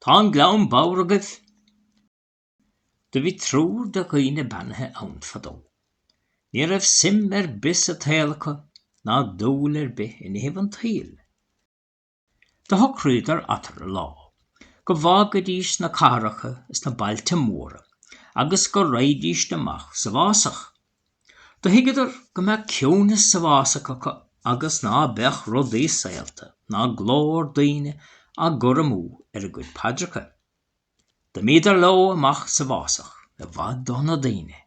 Tá an gleann bodhar agaibh. Do bhí triúr de dhaoine beannaithe ann fadó. Ní raibh suim ar bith sa tsaol acu ná dúil ar bith i nithibh an tsaoil. Do shocraíodar eatarthu lá go bhfágaidís na cathracha is na bailte móra agus go raghaidís amach sa bhfásach. Do thuigeadar go mbeadh ciúineas sa bhfásach acu agus ná beadh rudaí saolta ná glór daoine á gcur amú ar a gcuid paidreacha. D'imíodar leo amach sa bhfásach i bhfad ó na daoine.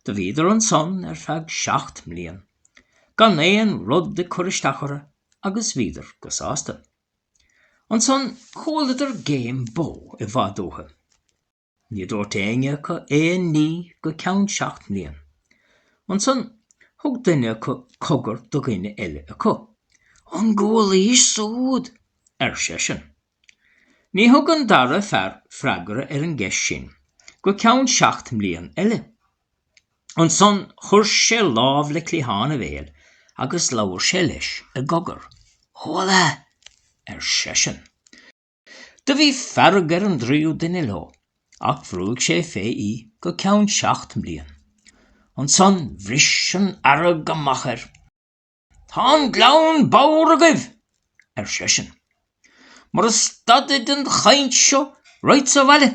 Do bhíodar ansan ar feadh seacht mblian gan aon rud ag cur isteach orthu agus bhíodar go sásta. Ansan chualadar géim bó i bhfad uathu. Ní dúirt éinne acu aon ní go ceann seacht mbliain. Ansan thug duine acu cogar do dhuine eile acu. An gcualaís súd? ar seisean. Ní thug an dara freagra ar an gceist sin go ceann seacht mbliain eile. Ansan chuir sé lámh le cliathán a bhéil agus labhair sé leis i gcogar. Chuala! ar seisean. Do bhí fearg ar an dtríú duine leo ach bhrúigh sé fé í go ceann seacht mblian. Ansan bhris an fhearg amach air. Tá an gleann bodhar agaibh! ar seisean. Mura stadfaidh an chainnt seo raghad-sa abhaile,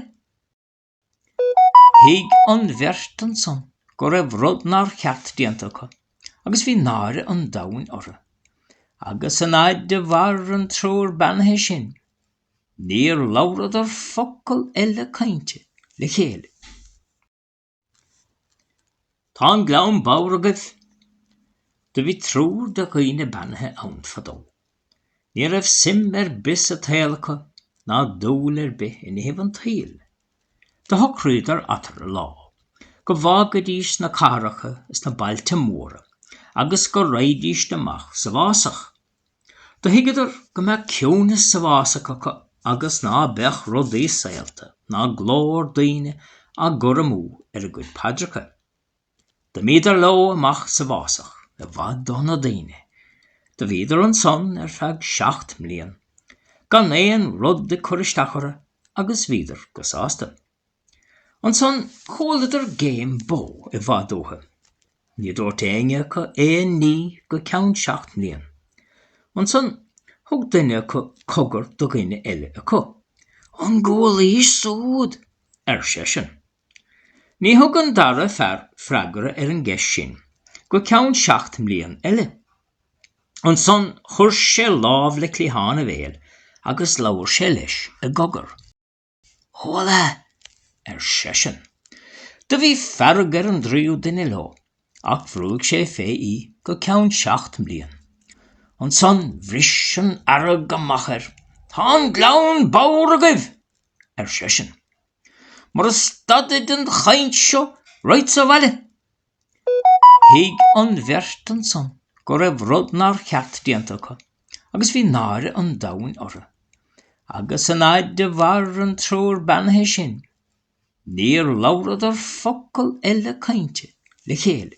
Thuig an bheirt ansan go raibh rud nár cheart déanta acu agus bhí náire an domhain orthu. Agus an fhaid do mhair an triúr beannaithe sin, níor labhradar focal eile cainte le chéile. Tá an gleann bodhar agaibh. Do bhí triúr de dhaoine beannaithe ann fadó. Ní raibh suim ar bith sa tsaol acu ná dúil ar bith i nithibh an tsaoil. Do shocraíodar eatarthu lá go bhfágaidís na cathracha is na bailte móra agus go raghaidís amach sa bhfásach. Do thuigeadar go mbeadh ciúineas sa bhfásach acu agus ná beadh rudaí saolta ná glór daoine á gcur amú ar a gcuid paidreacha. D'imíodar leo amach sa bhfásach, i bhfad ó na daoine. Do bhíodar ansan ar feadh seacht mblian, gan aon rud ag cur isteach orthu agus bhíodar go sásta. Ansan chualadar géim bó i bhfad uathu. Ní dúirt éinne acu aon ní go ceann seacht mbliain. Ansan thug duine acu cogar do dhuine eile acu. An gcualaís súd? ar seisean. Ní thug an dara fear freagra ar an gceist sin go ceann seacht mbliain eile. Ansan chuir sé lámh le cliathán a bhéil agus labhair sé leis i gcogar. Chuala! ar seisean. Do bhí fearg ar an dtríú duine leo, ach bhrúigh sé fé í go ceann seacht mbliain. Ansan bhris an fhearg amach air. Tá an gleann bodhar agaibh! ar seisean. Mura stadfaidh an chainnt seo, raghad sa bhaile! Thuig an bheirt ansan go raibh rud nár cheart déanta acu agus bhí náire an domhain orthu. Agus an fhaid do mhair an triúr beannaithe sin, níor labhradar focal eile cainte le chéile.